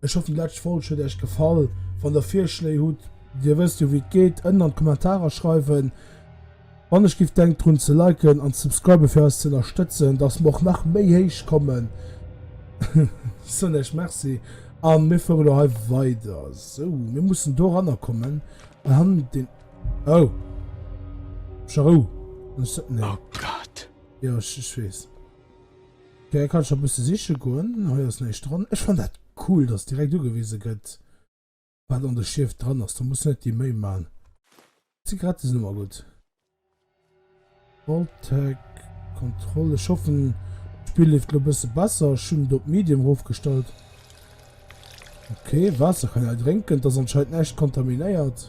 Ech hoff déi läscht Folg huet äech gefall. Wann der Virschléi hutt, dir wësst jo wéi et geet, ënnen an d'Kommentarer schreiwen. Wann ech giff denkt drun ze liken an ze subscriben fir eis ze ënnerstëtzen, dass mer och nach méi héich kommen, soen äech Merci a mir fuere lo hei weider. Sou, mir mussen do eranner kommen an han den oh! Charou! Oh Gott! Jo, ech weess. Hei kann ech nach bësse siche goen. Hei ass näischt dran. Ech fannen dat cool, dass direkt ugewise gëtt, wat an de Schief dran ass. Da muss net déi Méi man. Zigarette sinn ëmmer gutt. Vault-Tec, Kontroll. Ech hoffen, d'Spill leeft elo bësse besser. Ech hunn et op Medium erofgestallt. Okay, Waasser kann een hei drénken. Et ass anscheinend näischt kontaminéiert.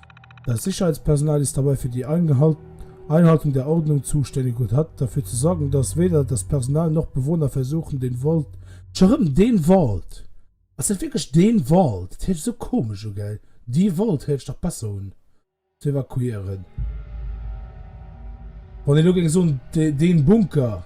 Das Sicherheitspersonal ist dabei für die Einhaltung der Ordnung zuständig und hat dafür zu sorgen, dass weder das Personal noch Bewohner versuchen, den Wald. Scho rëm den Wald. Ass dat wierklech den Wald? Dat héicht sou komesch u, gell? Die Wald héicht dach besser un. Ze evakuieren. Wann een elo géing soen, den Bunker.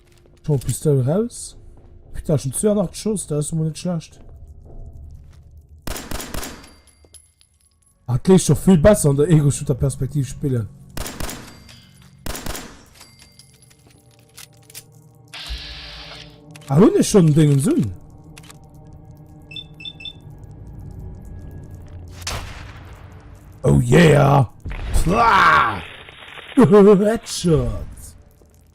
Hol d'Pistoul raus. Putain, schon 82 Schoss, dat ass emol net schlecht. Dat léisst scho vill besser an der Ego-Shooter-Perspektiv spillen. Ah, hun ech schon Dingens un? Oh yeah! Headshot!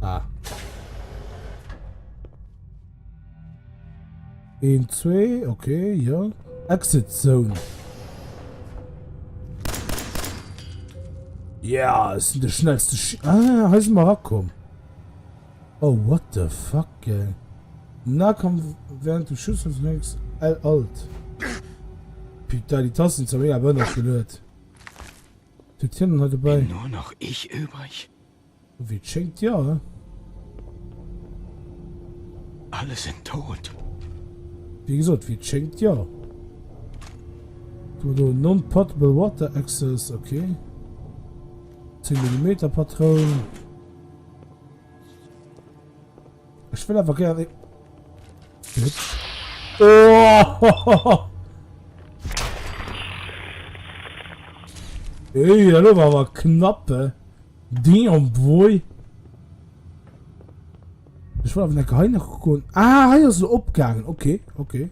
Ah. Een, zwee, okay, ja. Exit Zone. Ja, es sind de schnellste Sch Ah, he sind wir rakom. Oh, what the fuck, ey. Na, komm, während du Schuss und nix. L alt. Putain, die Tasten sind mega bönnert gelöt. D'Fiktioun hei dobäi. Bin nur noch ich übrig? Ewéi et schéngt, jo. Alle sind tot. Wéi gesot, ewéi et schéngt, jo. Hu mer do non-potable water access, ok. 10 Millimeter Patroun. Ech will awer gär... Oh! Ey, hallo, war aber knappe. Ding und Boy. Ich war auf der Geheim noch gekommen. Ah, hier ist so abgegangen. Okay, okay.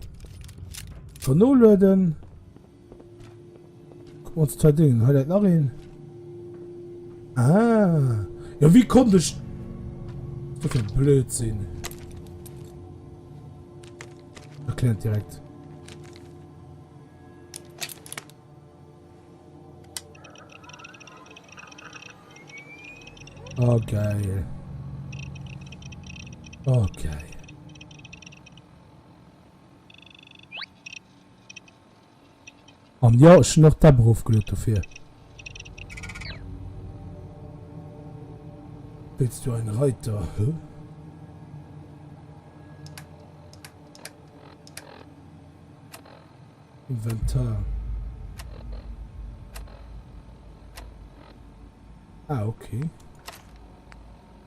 Vernoladen. Kucken ons d'zwei Dingen. Hei läit nach een. Ah. Jo, wéi konnt ech do fir e Blödsinn? Erkläert direkt. Oh, geil. Oh, geil. An jo, ech hunn och d'App erofgeluet dofir. Willst du einen Reiter? Huh? Inventar. Ah, okay.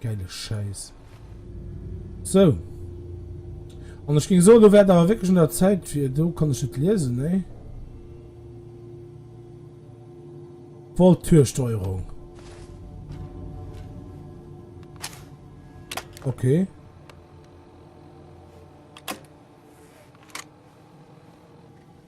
Geile Schäiss. Sou. An ech géing soen, elo wär et awer wierklech un der Zäit, fir. Do kann ech net liesen, nee. Voltürsteuerung. Okay.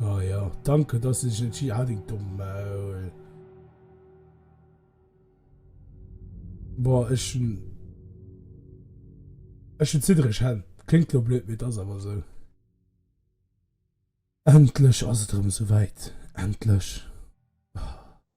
Ah ja, danke, dass du dich entschieden hast, halt dein Maul. Boah, ich schon. Ich schon zitterig Hänn. Klingt lo blöd, mee et ass awer sou. Endlech ass et erëm souwäit. Endlech.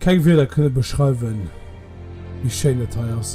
Keng Wierder kënne beschreiwen wéi schéin et hei ass.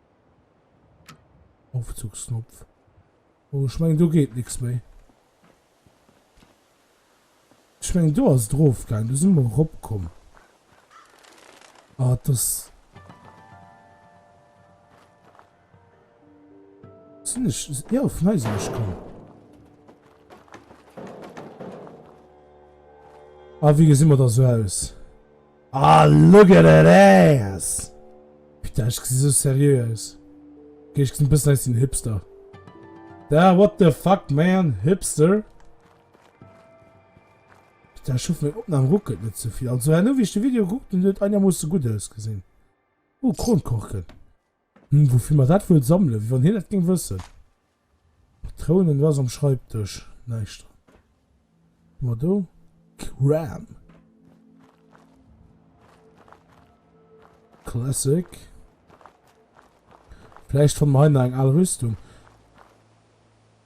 Aufzugsknopf. Oh, ech mengen, do geet nix méi. Ech mengen, do ass et erofgaangen. Do si mer eropkomm. Ah, das... Sinn ech... Ja, vun hei sinn ech komm. Ah, wéi gesinn mer da sou aus? Ah look at that ass! Putain ech gesi sou serieux aus. Ok ech gesi bessen aus wéi en Hipster. Da what the fuck man, Hipster? Putain ech hoffen meng Opnahm ruckelt net zevill. Also herno wéi ech de Video gekuckt hunn huet et einermoosse gutt ausgesinn. Oh Kronkorken. Hm, woufir mer dat wuel sammelen? Wéi wann hien dat géing wëssen. Patrounen, wat ass am Schreibdësch? Näischt dran. Hu mer do Kram? Classic. Vläicht fanne mer hei nach eng al Rüstung.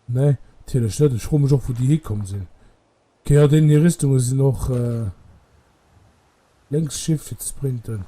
Nee, natierlech net. Ech froe mech och, wou déi hikomm sinn. Ok, jo, deenen hir Rüstunge sinn och. Lénks Shift fir ze sprinten.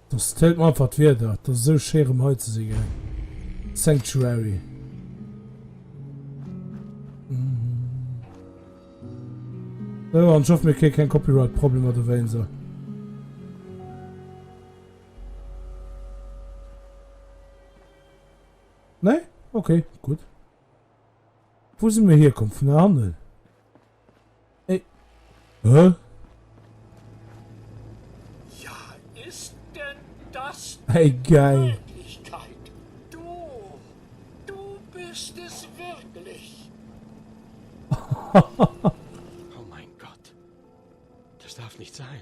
Dass feelt mer einfach d'Wieder, et ass esou schéi rem hei ze si gell. Sanctuary. Sou an ech hoffen mir kréie keng Copyright Problemer dowéint sou. Nee? Ok, gutt. Wou si mir hierkomm? Vun der Hannen? Ey. Huh? Ja, ist denn das hey, geil. Möglichkeit? Du, du bist es wirklich. oh mein Gott. Das darf nicht sein.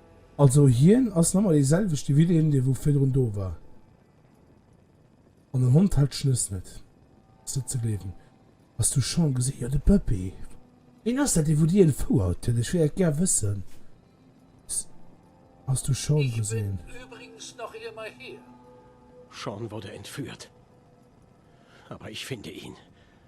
Also hien ass nemmer dee selwechte wéi deen dee wou virdrun do war. An den Hond hält Schnëss net. Ass net ze gleewen. Has du Sean gesi? Jo de Puppy. Ween ass dat dee wou dir entfouert hutt? Ech wéilt dat gär wëssen. S, Has du Sean gesinn? Ech bin übrigens nach émmer hier. Sean wurde entführt. Aber ich finde ihn.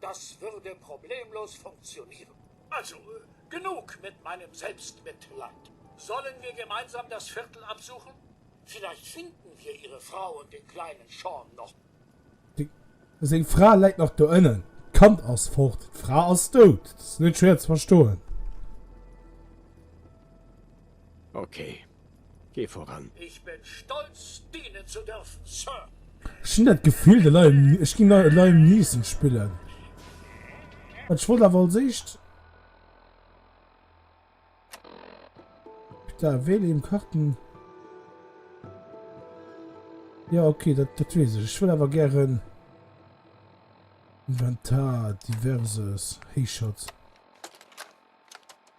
das würde problemlos funktionieren. Also, genug mit meinem Selbstmitleid. Sollen wir gemeinsam das Viertel absuchen? Vielleicht finden wir ihre Frau und den kleinen Sean noch. Seng Fra läit nach do ënnen. D'Kand ass fort. D'Fra ass dout. Dat ass net schwéier ze verstoen. Okay, Geh voran! Ich bin stolz, dienen zu dürfen, Sir! Ech hun dat Gefill de Liam Neeson, ech ging Liam Neeson spillen, wat ech wollt awer als éischt putain wähle im Karten jo ok dat dat wees ech, ech wëll awer gären Inventar diverses héichert.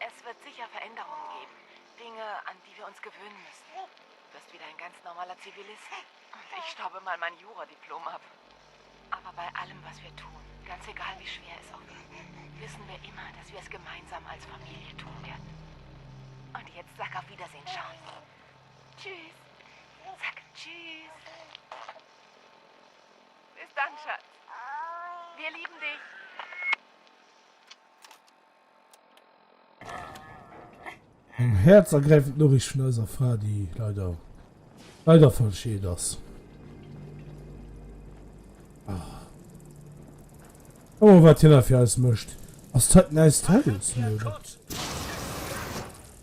Es wird sicher Veränderungen geben, Dinge, an die wir uns gewöhnen müssen. Du wirst wieder ein ganz normaler Zivilist und ich staube mal mein Juradiplom ab. Aber bei allem, was wir tun, ganz egal, wie schwer es auch wird, wissen wir immer, dass wir es gemeinsam als Familie tun werden. Und jetzt sag auf Wiedersehen, Charles. Tschüss. Sag Tschüss. Bis dann, Schatz. Wir lieben dich. Eng herzergräifend Noriicht vun eiser Fra, déi leider leider verscheet ass. Ah. Oh, wat hinner fir eis mëscht. Ass dat näist Haus?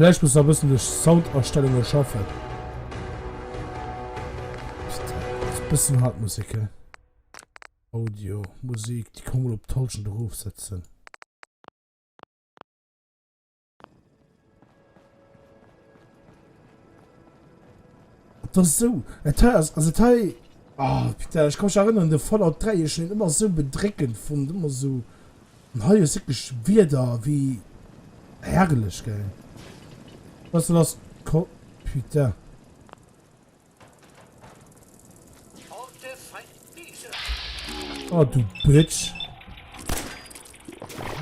Vläicht muss nach e bëssen duerch Soundastellunge schaffen. Ass e bëssen haart d'Musek he. Audio, Musik, déi kann ee mol op d'Halschent erofsetzen. Et ass esou, et hei ass, also et hei, ah putain, ech ka mech erënneren de Fallout 3, ech hunn en ëmmer esou bedréckend fonnt, ëmmer esou. An hei ass wierklech Wieder ewéi herrlech, gell? Wat soll ass d'Ko. Putain. Oh du Bitch.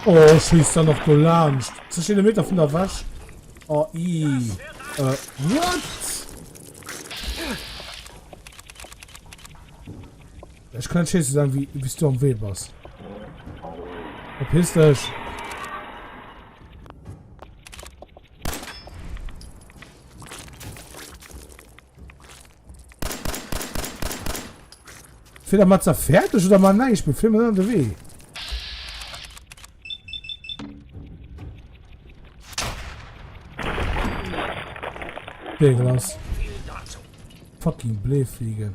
Oh, schießt da noch Golansch. Zwischen den Meter von der Wäsch. Oh, i. Äh, what? Ech kann schee ze sagen, wie, wies du am Wee bass. Verpiss dech! Fehler mal zerfertig oder mal nein, ich bin Film an der Wee. Ding lass. Fucking Blähfliege.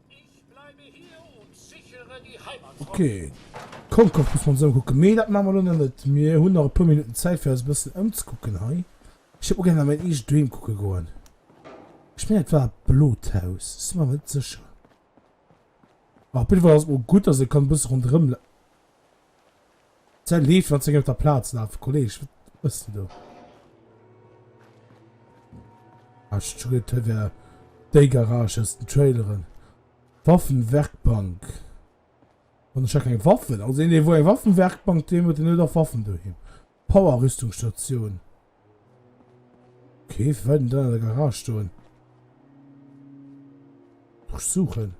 Ok, d'Konkoch muss mer ons ëmkucken, mee dat maache mer elo nach net. Mir hunn nach e puer Minutten Zäit fir eis e bëssen ëmzekucken hei. Ech géif och gär nach mäin eegent doheem kucke goen. Ech mengen et war d'Blot Haus, ech si mer awer net sécher. Op jiddwer Fall ass et mol gutt, datt ee ka e bësse ronderëm. Säi Leef an zéng op der Plaz lafe. Kolleg, wat mëss de do? Ech hu geduet, hei wär déi Garage aus den Traileren. Waffenwerkbank. An ech hat keng Waffen. Also een, dee wou eng Waffenwerkbank doheem huet, deen huet och Waffen doheem. Power-Rüstungsstatioun. Okay, firwat huet en dann an der Garage stoen? Durchsuchen.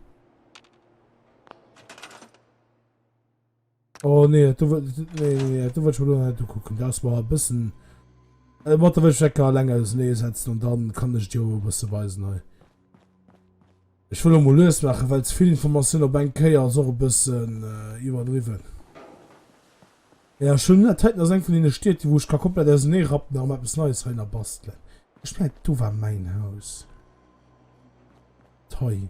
Oh nee, du willst, nee, nee, nee, du willst mir nicht gucken. Das war ein bisschen. Äh, warte, will ich Stecker allein aus dem Nähe setzen und dann kann ich dir ein bisschen weisen. Hey. Ich will mal lös machen, weil zu viel Information auf einen Keier ist auch ein bisschen äh, überdriven. Ja, schon das heute noch von den Städten, wo ich kann komplett aus dem Nähe rappen, darum etwas Neues rein basteln. Ich meine, du war mein Haus. Toll.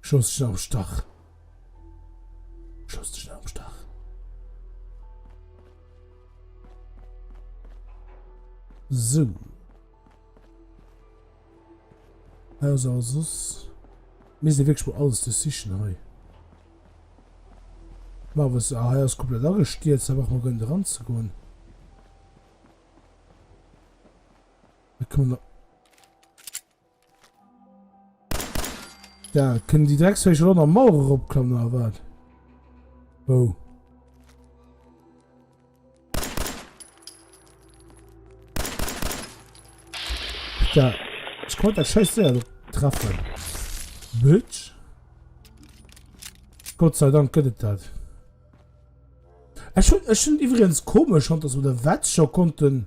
Schloss dech net am Stach. Schloss dech net am Stach. So. Also, also, sos. Mir se wéch wo alles de sichen hei. Ma was a hei ass komplett agestiiert, se wach mo gënn de ran ze goen. E kann. Da kënnen déi Drecksféicher elo nach Mauer eropklammen, oder wat? Oh. Da. Ich konnte das scheiß Ding treffen. Bitch. Gott sei Dank gëtt et dat. Ech hun, ech hun iwwerens komisch, dass wir der Wetz schon konnten...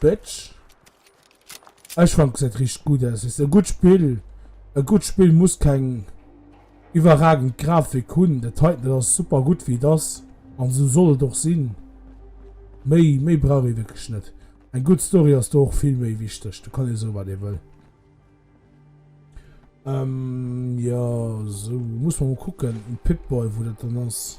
Bitch. Ech fannt gesäit richteg gudd aus. Ass e gudd Spill. E gudd Spill muss keng iwwerragend Grafik hunn. Dat heiten dat ass super gudd wéi et ass an esou soll et och sinn. Méi méi brauch ee wierklech net. Eng gudd Story ass do och vill méi wichteg. Do kann ee soe wat ee wëll. Ehm jo esou muss mer mol kucken um Pip-Boy wou dat dann ass.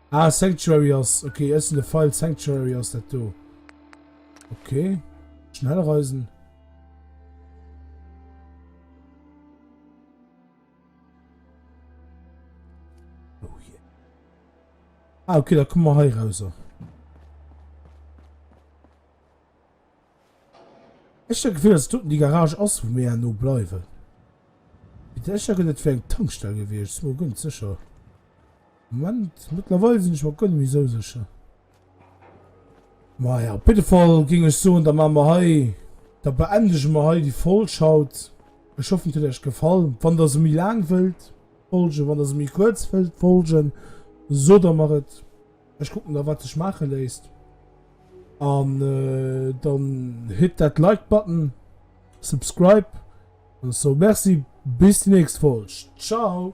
Ah, Sanctuary ass... Okay, ech sinn de File, Sanctuary ass dat do. Okay. Schnell reisen. Oh yeah. Ah, okay, da kommen wir hei raus. Ech hun d'Gefill dass et doten déi Garage ass wou mir herno bleiwen. Mee d'Escher get et fir eng Tankstell gewiescht, sin mer guer net secher. Moment, mettlerweil sin ech mer guer net méi sou secher. Maja, op jidde Fall ging ech soen da maan mer hei, da beendegen mer hei déi Folg haut. Ech hoffen et huet Äech gefall. Wann der se méi laang wëllt folgen, wann der se méi kuerz wëllt folgen, soot der mer et. Ech kucken da wat sech maache léisst. An äh, dann hit dat Like Button, Subscribe an sou merci bis déi nächst Folg. Ciao!